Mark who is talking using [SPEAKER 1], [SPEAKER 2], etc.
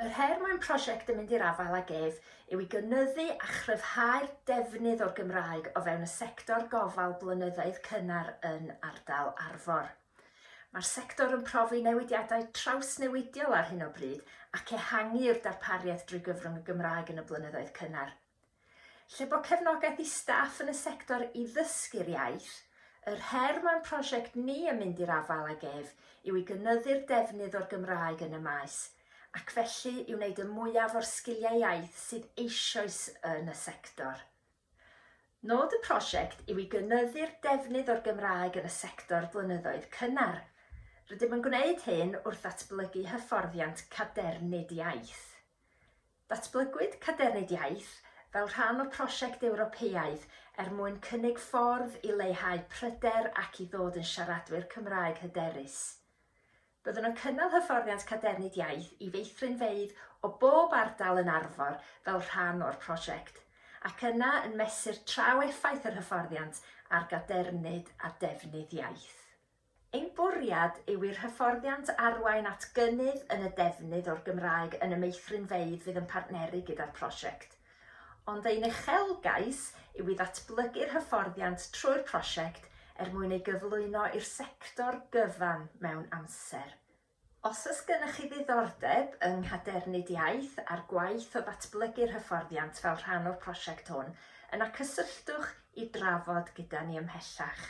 [SPEAKER 1] Yr her mae'n prosiect yn mynd i'r afael ag ef yw i gynyddu a chryfhau'r defnydd o'r Gymraeg o fewn y sector gofal blynyddoedd cynnar yn ardal Arfor. Mae'r sector yn profi newidiadau trawsnewidiol ar hyn o bryd ac ehangu i'r darpariaeth drwy gyfrwng y Gymraeg yn y blynyddoedd cynnar. Lle bod cefnogaeth i staff yn y sector i ddysgu'r iaith, yr her mae'n prosiect ni yn mynd i'r afael ag ef yw i gynyddu'r defnydd o'r Gymraeg yn y maes, ac felly i wneud y mwyaf o'r sgiliau iaith sydd eisoes yn y sector. Nod y prosiect yw i gynyddu'r defnydd o'r Gymraeg yn y sector blynyddoedd cynnar. Rydym yn gwneud hyn wrth ddatblygu hyfforddiant cadernid iaith. Datblygwyd Cadernid Iaith fel rhan o prosiect Ewropeaidd er mwyn cynnig ffordd i leihau pryder ac i ddod yn siaradwyr Cymraeg hyderus. Byddwn yn cynnal hyfforddiant Cadernid Iaith i feithrinfeydd o bob ardal yn Arfor fel rhan o'r prosiect, ac yna yn mesur traw effaith yr hyfforddiant ar gadernid a defnydd iaith. Ein bwriad yw i'r hyfforddiant arwain at gynnydd yn y defnydd o'r Gymraeg yn y meithrinfeydd fydd yn partneru gyda'r prosiect. Ond ein uchelgais yw i ddatblygu'r hyfforddiant trwy'r prosiect er mwyn ei gyflwyno i'r sector gyfan mewn amser. Os oes gennych chi ddiddordeb yng Nghadernid Iaith a'r gwaith o ddatblygu'r hyfforddiant fel rhan o'r prosiect hwn, yna cysylltwch i drafod gyda ni ymhellach.